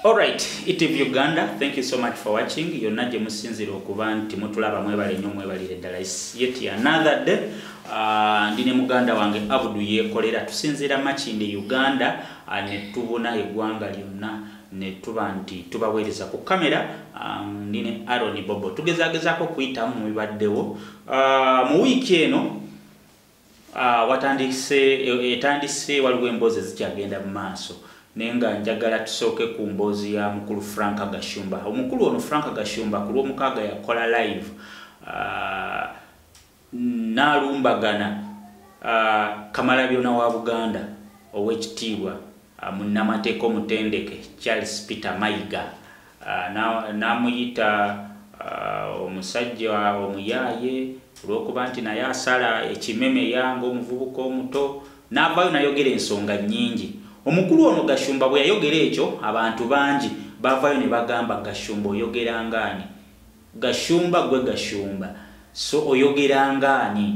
Alright, ETV Uganda, thank you so much for watching. Yonna gye musinzira okuba nti mutulaba mwebale nnyo mwebalire ddala. It's yet another day. Uh, ndi ne muganda wange Abdu yeekolera tusinziira Makindye Uganda uh, ne tubuna eggwanga lyonna ne tuba nti tubaweereza ku kamera um, ndi ne Aaron Bobo. Tugezagezaako okuyitamu mu bibaddewo uh, mu wiiki eno Ah, watandise e, etandise waliwo emboozi ezikyagenda mu maaso naye nga njagala tusooke ku mboozi ya mukulu frank gashumba omukulu ono frank gashumba ku lwomukaaga yakola live ah, nalumbagana ah, kamala byona wa buganda owekitiibwa munnamateeka omutendeke charles peter mayiga n'amuyita omusajja omuyaaye olw'okuba nti naye asala ekimeme yange omuvubuka omuto n'avaayo nayogera ensonga nnyingi omukulu ono gashumba bwe yayogera ekyo abantu bangi baavaayo ne bagamba gashumba oyogera ngaani gashumba gwe gashumba so oyogera ngaani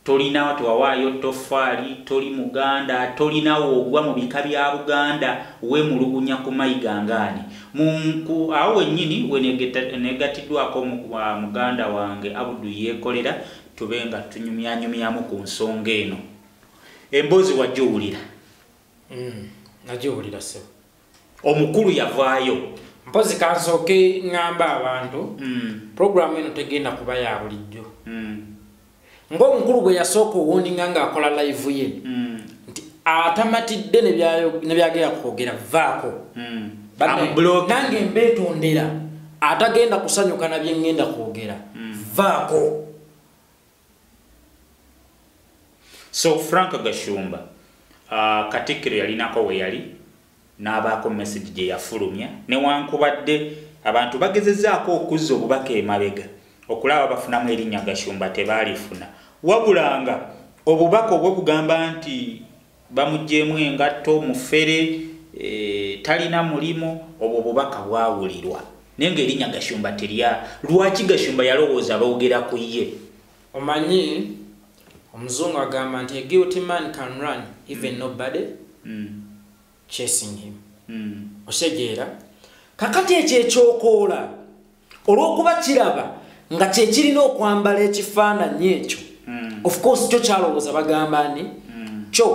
Tolina tewawaayo ttoffaali, toli Muganda, tolina w'ogwa mu bika bya Buganda, weemulugunya ku Mayiga ng'ani? Mu, ku, awo wennyini we negeta, neegatiddwako mu, uh, muganda wange Abdu Yeekolera tube nga tunyumyanyumyamu ku nsonga eno. Emboozi wagiwulira? Mm, nagiwulira, ssebo. omukulu yavaayo mpozi kansooke ŋŋamba abantu mm. puroguramu eno tegenda kuba ya bulijjo mm. ng'omukulu bwe yasooka owuninga ng'akola layivu ye mm. nti atamatidde ne byagenda kwogera vaako nange mbeetondera atagenda kusanyuka na bye ŋŋenda kwogera vaako so frank gashumba uh, katikkiro yalinako weyali n'abaako message gye yafulumya newankubadde abantu bagezezaako okuzza obubaka emabega okulaba bafunamu erinnya gashumba tebaalifuna wabulanga obubaka obwo bugamba nti bamugyemu engatto mufere e, talina mulimu obwo bubaka bwawulirwa naye nga erinya gashumba terya lwaki gashumba yalowooza boogera ku ye omanyi omuzungu agamba nti guilty man can run even mm. nobody mm. chasing him mm. osegeera kakati ekyo ekyokoola olw'okuba kiraba nga kyekirina okwambala ekifaananyi ekyo hmm. of course kyo kyalowooza bagamba ni hmm. kyo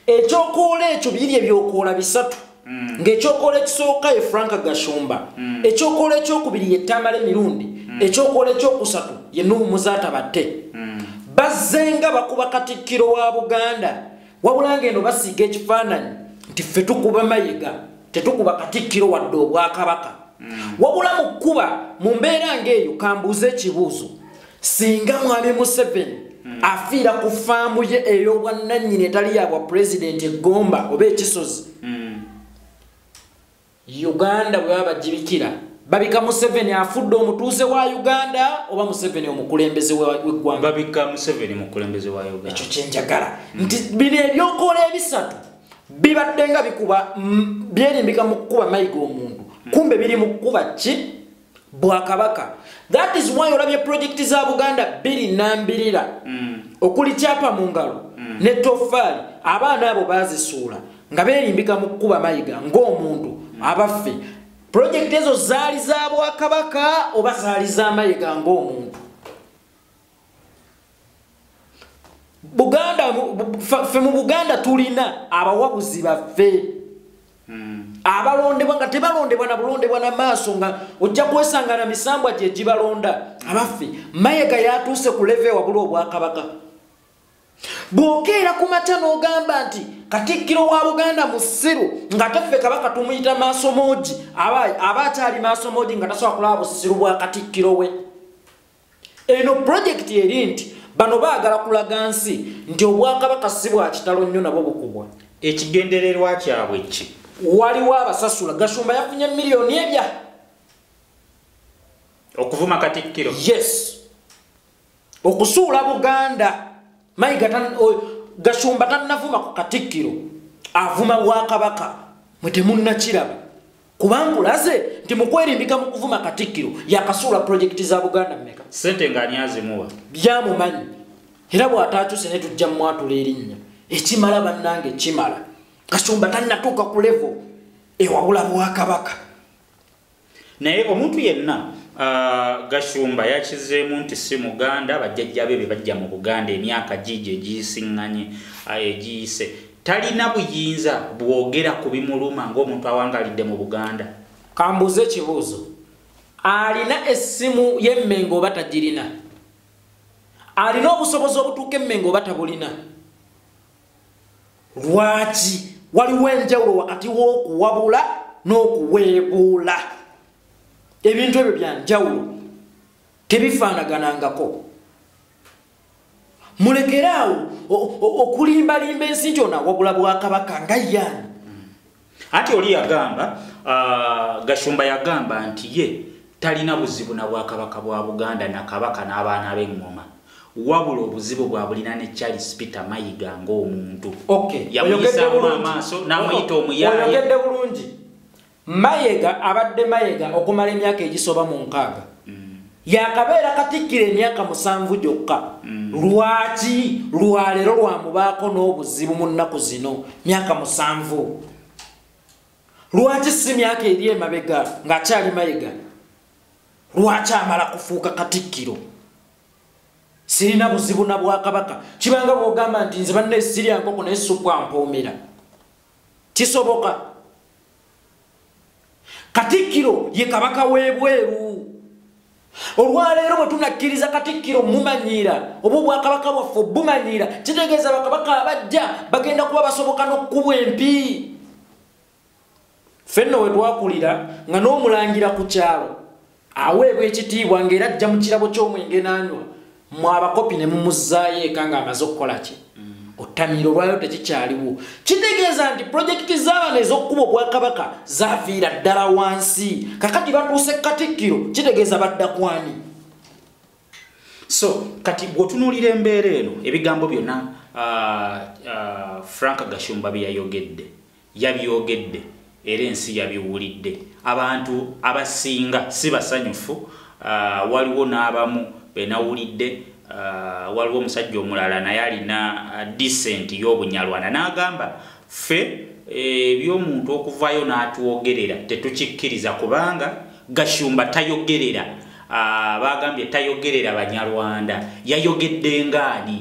ekyokoola ekyo biri ebyokoola bisatu hmm. ng'ekyokoola ekisooka ye frank gashumba ekyokoola ekyokubiri ye tamale mirundi ekyokoola ekyokusatu ye nuhu muzaata batte bazzenga bakuba katikkiro wa buganda wabula ng'eno basiiga ekifaananyi nti ffe tukuba mayiga tetukuba katikkiro wadde obwakabaka mm. wabula mu kkuba mu mbeera ng'eyo kambuuza ekibuuzo singa mwami museveni mm. afiira ku faamu ye ey'obwannannyini etali yabwa pulezidenti eggomba oba ekisozi mm. Uganda bwe baba bajibikira babika Museveni afudde omutuuze wa Uganda oba Museveni omukulembeze w'eggwanga babika Museveni mukulembeze wa Uganda ekyo kye njagala mm. nti bino ebyokola ebisatu bibadde nga bikuba mm, byerimbika mu kukuba mayiga omuntu mm. kumbe biri mu kukuba ki bwakabaka that is why olabye projekiti za buganda bbiri nambirira mm. okuli kyapa mu ngalo mm. ne toffaali abaana abo bazisuula nga berimbika mu kukuba mayiga ng'omuntu mm. abaffe projekiti ezo zaali za bwakabaka oba zaali za mayiga ng'omuntu buganda fe mu buganda tulina abawabuzi baffe hmm. abalondebwa nga tebalondebwa na bulondebwa na maaso nga ojja kwesanga na misambwa gye gibalonda abaffe mayega yatuuse ku leve wabula obwakabaka bwokeera ku makya n'ogamba nti katikkiro wa buganda musiru nga taffe kabaka tumuyita maaso moogi aba akyali maaso moogi nga tasobola kulaba busiru bwa katikkiro we eno pulojekiti eri nti bano baagala kulaga nsi nti obwakabaka si bwa kitalo nnyo nabo bukubwa ekigendererwa kyabwe ki waliwo abasasula gashumba yafunye miliyoni ebya okuvuma katikkiro yes okusuula buganda mayiga gashumba tannavuma ku katikkiro avuma bwakabaka mwe temunnakiraba kubanga ulaze nti mukwerimbika mu kuvuma katikkiro yakasuula pulojekiti za buganda mumeka sente nga anyazimuwa byamumanyi era bw'ataakyuse ne tujja mwatula erinnya ekimala bannange kimala kasumba tannatuuka ku levo ewawula bwakabaka naye omuntu yenna uh, gashumba yakizeemu nti si muganda bajjajja be be bajja mu buganda emyaka giigyo egiyisiŋŋanye uh, egiyise Talina buyinza bwogera ku bimuluma ng'omuntu awangalidde mu Buganda. Kambuuze ekibuuzo. Alina essimu ye Mmengo oba tagirina? Alina obusobozi obutuuka e Mmengo oba tabulina? Lwaki waliwo enjawulo wakati w'okuwabula n'okuweebuula? Ebintu ebyo bya njawulo. Tebifaanaganangako. mulekere awo okulimbalimba ensi nti ono awagula bwakabaka nga yaani anti oli yagamba uh, gashumba yagamba nti ye talina buzibu na bwakabaka bwa buganda na kabaka n'abaana b'eŋŋoma wabula obuzibu bwabulina ne charles peter mayiga ng'omuntu yamuyisaamu amaaso n'amuyita omuyaaye Mayega abadde Mayega okumala emyaka egisoba mu nkaaga. yakabeera katikkira emyaka musanvu gyokka mm. lwaki lwaleero lwamubaako n'obuzibu mu nnaku zino myaka musanvu lwaki si myaka eri emabega ng'akyali mayega lwaki amala kufuuka katikkiro sirina buzibu na bwakabaka kibanga bwogamba nti nze banna esirya nkoko naye sukwa mpoomera kisoboka katikkiro ye kabaka w'ebweru olwaleero bwe tunakkiriza katikkiro mumanyiira oba obwakabaka bwaffe obumanyiira kitegeeza bakabaka abajja bagenda kuba basoboka n'okukubwa empi fenna we twakulira nga n'omulangira ku kyalo aweebwa ekitiibwa ng'era ajja mu kirabo ky'omwenge n'anywa mwe abakopi ne mumuzzaayo eka ng'amaze okukola ki otamiiro olwayo tekikyaliwo kitegeeza nti pulojekiti z'abana ez'okukuba obwakabaka zaviira ddala wansi kakati batuuse katikkiro kitegeeza badda kwani so kati gweotunuulira embeera eno ebigambo byonna uh, uh, frank gashumba byeyayogedde Yabyogedde era ensi yabiwulidde. Abantu abasinga si basanyufu. Uh, waliwo n'abamu benawulidde uh, waliwo omusajja omulala naye alina uh, decent y'obunyarwanda n'agamba ffe ebyomuntu eh, okuvayo n'atwogerera tetukikkiriza kubanga gashumba tayogerera ah, bagambye tayogerera banyarwanda yayogedde ngaani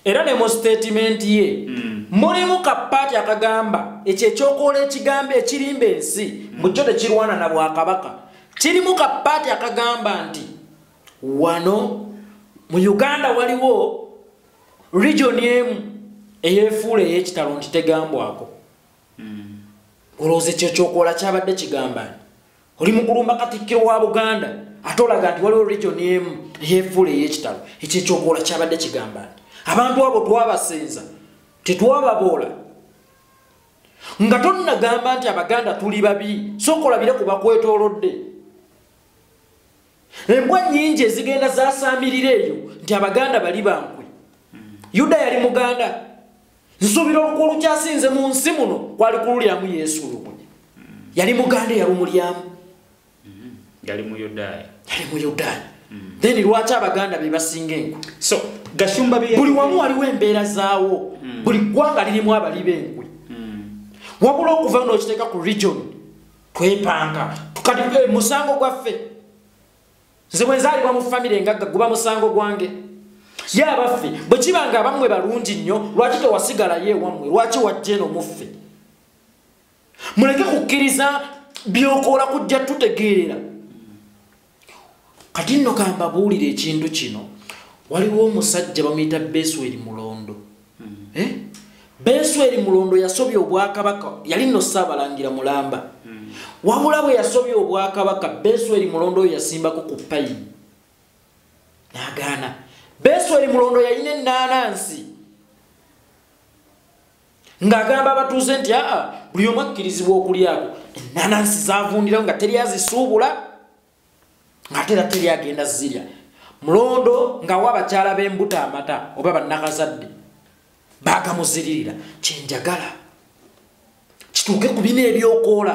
era ne mu sitatimenti ye mm. mulimu kapaati akagamba ekyo ekyokoola ekigambo ekirimba ensi mm. mukyo tekirwana na bwakabaka kirimu kapaati akagamba nti wano mu uganda waliwo regioni emu eyefuula eyekitalo nti tegambwako mm. olowooza ekyo ekyokoola kyabadde kigambani oli mukulumba katikkiro wa buganda ate olaga nti waliwo region emu yefuula eyekitalo ekyo ekyokuwola kyabadde kigamba nti abantu abo twabasinza tetwababoola nga tonnagamba nti abaganda tuli babi sokolabire ku bakwetolodde embwa nyingi ezigenda zasamirira eyo nti abaganda bali bankwe yuda yali muganda nsuubira oluku olukyasinze mu nsi muno kwali kululyamu yesu lumu yali muganda eyalumulyamu mm-hmm. yali muyudaaya yali muyudaaya mm-hmm. then lwaki abaganda bebasinga enkwe so gashumba buli wamu waliwo embeera zaawo mm. buli ggwanga lirimu abali benkwe mm. wabula okuva nookiteeka ku region twepanga kati eh, musango gwaffe nze bwenzaalibwa mu famire engagga guba musango gwange ye abaffe bwe kiba nga abammwe balungi nnyo lwaki tewasigalayo ewammwe lwaki wajja eno muffe muleke kukkiriza byokoola kujja tutegeerera kati nno kambabuulira ekintu kino waliwo omusajja bamuyita besweri mulondo hmm. eh? besweri mulondo yasobya obwakabaka yali nno saabalangira mulamba hmm. wabula bwe yasobya obwakabaka besweri mulondo oyo yasimbako ku payi nagaana besweri mulondo yalina enaanansi ng'agamba abatuuze nti aa buli omu akkirizibwa okulyako enanansi zavundirawo nga teri azisuubula ng'ate era teri agenda zirya mulondo ng'awa abakyala b'embuto amata oba bannakazadde baagamuziririra kyenjagala kituuke ku bina ebyokoola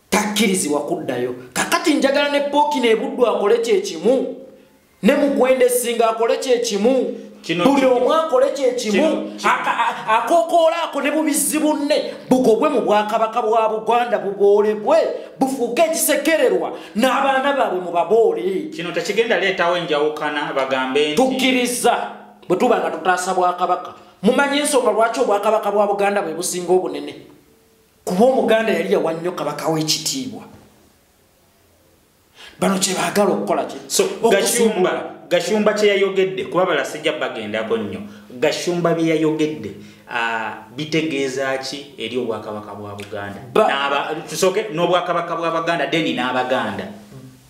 takkirizibwa kuddayo kakati njagala ne pooki nebuddu akole kyekimu ne mukwenda esinga akole kyekimu buli omu akole kyekimu akokoola ako ne bubizzi bunne bugobwe mu bwakabaka bwa buganda buboolebwe bufuuke ekisekererwa n'abaana baabwe mu baboole kino tekigenda leetawo enjawukana bagambe nti tukkiriza bwe tuba nga tutaasa bwakabaka mumanyi ensonga lwaki obwakabaka bwa buganda bwe businga obunene kuba omuganda yali yawa nnyo kabaka w'ekitiibwa bano kyebaagala okukola ki so gashumba gashumba kyeyayogedde kuba balasajja bagendako nnyo gashumba byeyayogedde bitegeeza ki eri obwakabaka bwa buganda tusoke n'obwakabaka bwa baganda deni n'abaganda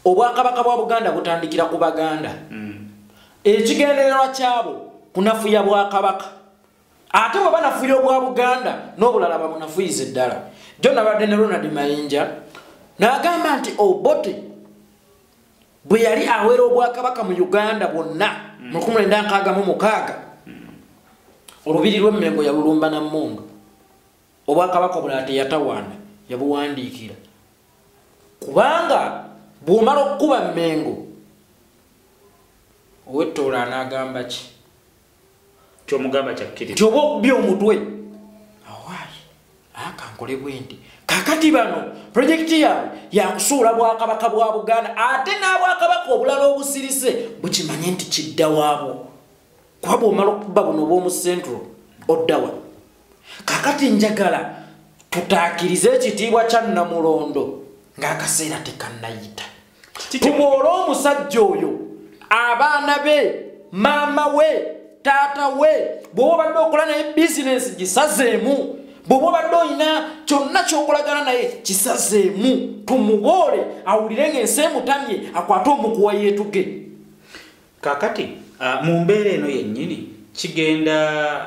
obwakabaka bwa buganda butandikira ku baganda hmm. ekigendererwa kyabo kunafuya bwakabaka ate bwe banafuya obwa buganda n'obulala babunafuyize ddala jo nabadde ne ronald mayinja n'agamba nti obote oh, bwe yali awera obwakabaka mu uganda bwonna mm. mu lukumi lwenda nkaaga mu mukaaga mm. olubiri lw'emmengo yalulumba na mmundu obwakabaka obulala teyatawaana yabuwandiikira kubanga bw'omala okukuba mmengo ow'ettoola anaagamba ki kyomugamba kyakkiriza kyoba okubi omutwe awaayi akankole bwendi kakati bano pulojekiti yaabwe yakusuula bwakabaka bwa buganda ate n'abwakabaka obulala obusirise bukimanye nti kidda waabwo kuba bwomala okuba buno obwomu central oddawa kakati njagala tutaakirize ekitiibwa kya namulondo ng'akaseera tekannayita tuboola omusajja oyo abaana be maama we taata we bwoba obadde okola naye bizinensi gisazeemu bwoba obadde olina kyonna kyokolagana naye kisazeemu tumuboole awulire ngaensi emutamye akwate omukuwa yeetuge kakati ah, mu mbeera eno yennyini kigenda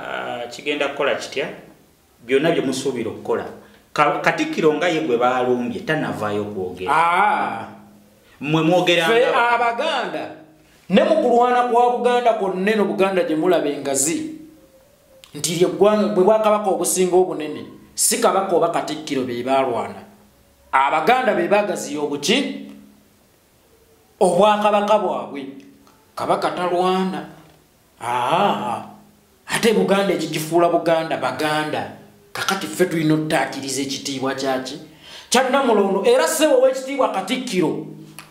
ah, kigenda kukola kitya byonna bye musuubira okukola katikkiro nga ye gwe baalumbye tanavaayo okwogera ah. mwe mwogeraffe abaganda ne mu kulwana kwa buganda kwonna eno buganda gye mulaba engazi nti lyeggwanga bwe bwakabaka obusinga obunene si kabaka oba katikkiro be baalwana abaganda be baagaziya obuki obwakabaka bwabwe kabaka talwana aa ate buganda ekigifuula buganda baganda kakati ffe tulina ottaakiriza ekitiibwa kyaki kyannamulondo era sebo ow'ekitiibwa katikkiro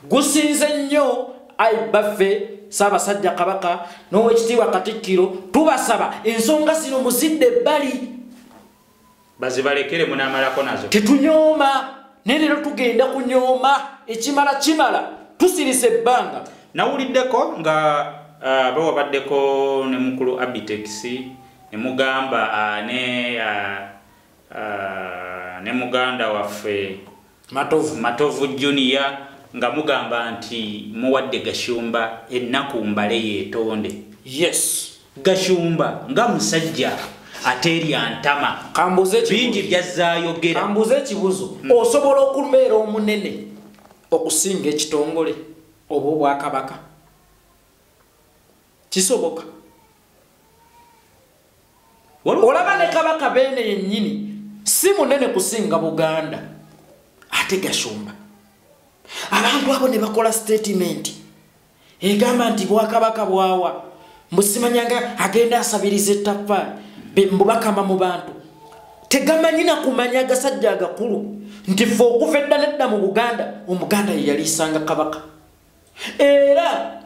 gusinze nnyo ayi baffe saabasajja kabaka n'ow'ekitiibwa katikkiro tubasaba ensonga zino muzidde ebbali bazibalekere munamalako nazo tetunyooma naye leero tugenda kunyooma ekimala kimala tusirise ebbanga nawuliddeko nga uh, bawabaddeko ne mukulu abitex ne mugamba uh, ne uh, uh, ne muganda waffe matovu matovu junior nga mugamba nti muwadde gashumba ennaku mbale yetonde yes gashumba nga musajja aterya ntama bingi byazzayogera kambuuza ekibuzo hmm. osobola okubeera omunene okusinga ekitongole oba obwakabaka kisoboka olaba ne kabaka beene yennyini si munene kusinga buganda ate gashumba abantu abo ne bakola sitatimenti egamba nti bwakabaka bwawa mbusimanyanga agenda asabiriza ettaffaali mbubakama mu bantu tegamanyi na kumanya agasajja agakulu nti fe okuva edda nedda mu buganda omuganda yeyaliisanga kabaka era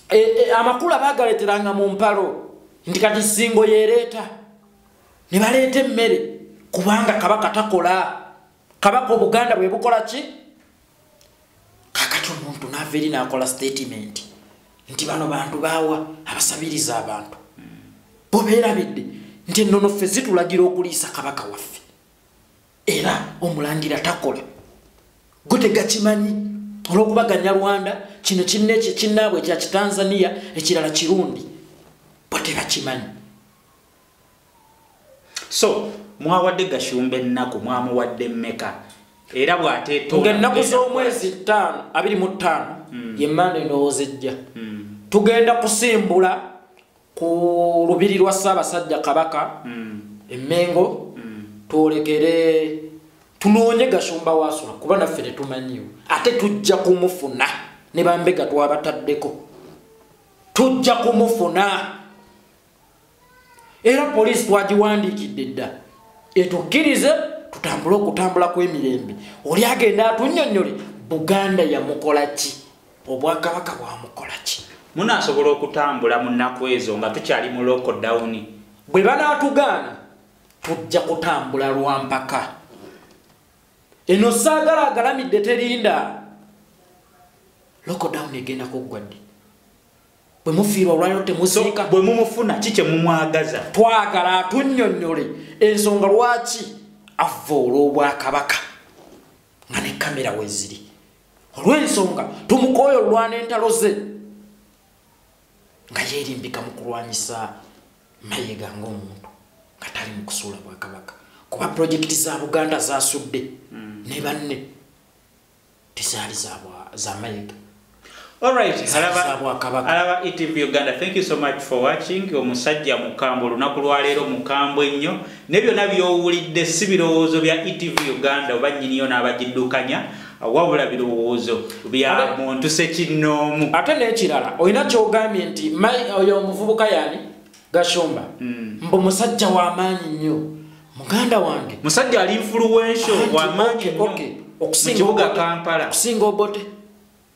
e, e, amakulu abagaleteranga mu mpalo nti kati singo yereeta ne baleeta emmere kubanga kabaka takola kabaka obuganda bwe bukola ki kakati omuntu naava eri naakola sitatimenti nti bano bantu baawa abasabiriza abantu bo beerabidde nti ennono ffe zitulagira okuliisa kabaka waffe era omulangira takola gwe tegakimanyi olwokuba ganyarwanda kino kineki kinaabwe ekya kitanzania ekirala kirundi bwe tebakimanyi so mwawadde gashumba ennaku mwamuwadde mmeka era bwatetongaennaku z'omwezi ttaano abiri mu ttaano hmm. ye manda endowooza ejja hmm. tugenda kusimbula ku lubiri lwa ssaabasajja kabaka mm. emengo mm. twolekere tunoonye gashumba wasula kuba naffe tetumanyiwo ate tujja kumufuna ne bambega twabataddeko tujja kumufuna era poliisi twagiwandiikidde dda etukkirize tutambule okutambula kw'emirembe oli agenda atunyonyole buganda yamukola ki obwakabaka bwamukolaki munasobola okutambula mu nnaku ezo nga tukyali mu lockdown bwe banaatugaana tujja kutambula lwa mpaka eno saagala agalamidde terinda lockdown egenda kuggwa ddi bwe mufiirwa olwaliro temuziika bwe mumufuna ki kye mumwagaza twagala atunnyonnyole ensonga lwaki avva olw'obwakabaka nga ne kamera weziri olw'ensonga tumukooya olwana entalo ze nga yeerimbika mu kulwanyisa mayega ng'omuntu nga tali mu kusuula bwakabaka kuba pulojekiti za buganda zasudde hmm. ne banne tezaali za mayega Alright, alaba ETV e Uganda. Thank you so much for watching. Omusajja mukambwe olunaku lwa leero mukambwe nnyo. Ne byonna by'owulidde si birowoozo bya ETV Uganda oba nnyiniyo n'abagiddukanya wabula birowoozo bya muntu sekinnoomu. Ate n'ekirala olina ky'ogambye nti oyo omuvubuka yani Gashumba hmm. mbu musajja wa maanyi nnyo muganda wange musajja ali influential wa maanyi nnyo mu kibuga Kampala. Okusinga obote.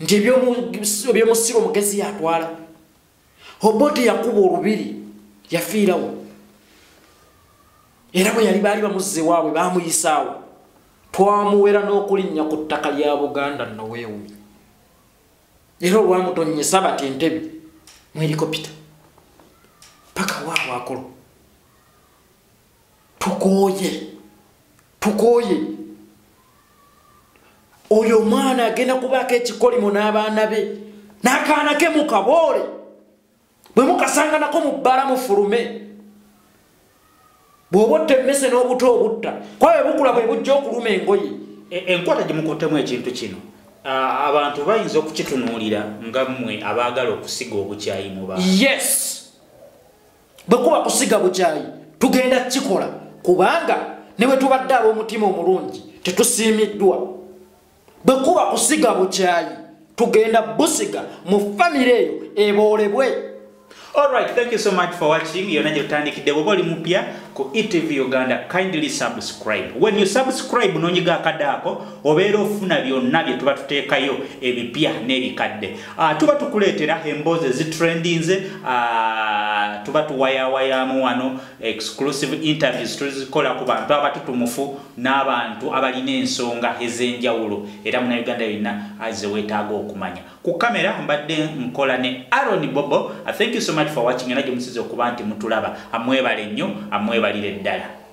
nti ebyomusiru omugezi yatwala obote yakuba olubiri yafiirawo era bwe yali baali bamuzze waabwe bamuyisaawo twamuwera n'okulinnya ku ttaka lya buganda noweewumi era olwamutonyesa bati entebe mwerikopita paka waabwe akolo tukooye tukooye oyo omwana agenda kubaako ekikolimo n'abaana be n'akaana ke mukaboole bwe mukasanganako mu bbala mufulume bw'oba otta emmese n'obuto obutta kuba bwe bukula bwe bujja okuluma engoye e, enkwata gye mukuttemu ekintu kino abantu bayinza okukitunuulira nga mmwe abaagala okusiga obukyayi mu ba yes bwe kuba kusiga bukyayi tugenda kukikola kubanga ne bwe tubadde ab'omutima omulungi tetusiimiddwa bwe kuba kusiga bukyayi tugenda busiga mu famire eyo eboolebwe Alright, thank you so much for watching. Yona jotandikide bwoba oli mupya ku ETV Uganda. Kindly subscribe. When you subscribe nonyiga akadako obeera ofuna byonna bye tuba tuteekayo ebipya n'ebikadde. Uh, tuba tukuleetera emboozi ezitrendinze uh, ah, tuba tuwayawayamu wano exclusive interviews tuzikola ku bantu abatutumufu n'abantu abalina ensonga ez'enjawulo era muna uganda yonna aze weetaaga okumanya ku kamera mbadde nkola ne aron bobo ah, thank you so much for watching era gye musiza okuba nti mutulaba amwebale nnyo amwebalire ddala